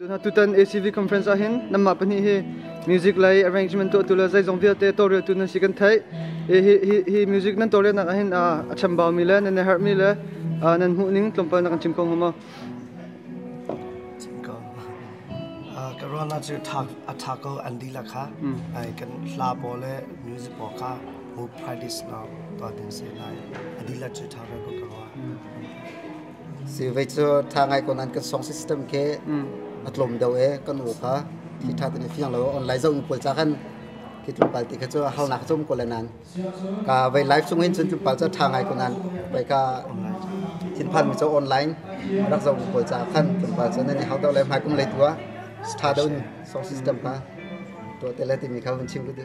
Tutan ACV conference ah hin namah pahnih hi music lei arrangement tuahtu le zeizong vialte tawreltu nan si kan theih. Hi music nan tawrelnak ah hin a chambaau mi le nan herh mi le nan hmuh ning tlawmpal na kan chim ko hnga ka ruahnak cu a ṭha ko an dihlak kha kan hla paw le music paw kha mu practice na tuah ding si lai a dihlak cu ṭha ko ka ruah Si vei cu tha ngai ko nan kan song system ke a tlawm deuh e kan u kha thi tha tan fiang lo online zoh pawl ca khan khi tlungpal ti kha cu hal nak chum ko le nan ka vei live chung in cun tlungpal ca tha ngai ko nan vai ka thin phan mi cho online rak zoh pawl ca khan tlungpal ca nan hau to le mai kum le tua tha deuh song system ka to te le ti mi kha vun chim lu de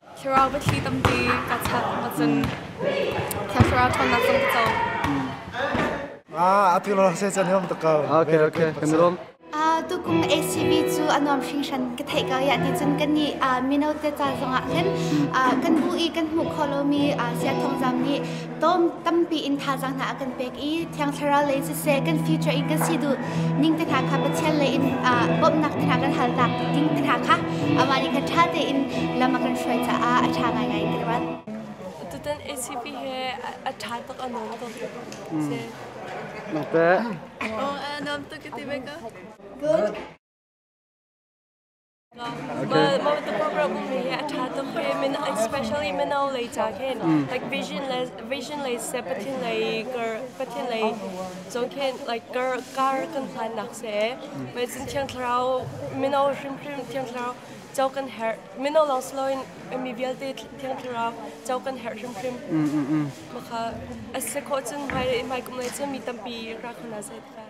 Thlarau biathli tamte ka chak ringawt cun Thiang Thlarau ṭhawnnak zong ka co. Ah, atu rawk se cun hom tak ko. Okay, okay, kan rom. A tukung ACB cu a nuam hringhran ka theih ko ya ti cun kan ni mino te ca zongah khin kan bu i kan hmuh kho lomi sia thongzam nih Tom tampi in thazaang hna a kan pek i thiang thlarau lei siseh kan future in kan si duh ning te hna kha Pathian lei in bawmhnak te hna kan hal tak ding te hna kha amah nih khan ṭha tein lam a kan hruai caah a ṭha ngaingai ka ruat. Tutan ACP he a ṭha tuk a nuam tuk. Nok te. Oh, a nuam tuk ti be ka. Good. Well, Mawtakum Ramumi a thatum pe min especially mino lei cha khen like vision le vision lei se pathin lei kar pathin lei zo khen like kar kar kan hlan nak se mai cin thiang thlarau mino hrim hrim thiang thlarau chau kan her mino long sloin mi vialte thiang thlarau chau kan her hrim hrim maka ase ko cun mai mai kum lei cun mi tampi ra khona se ta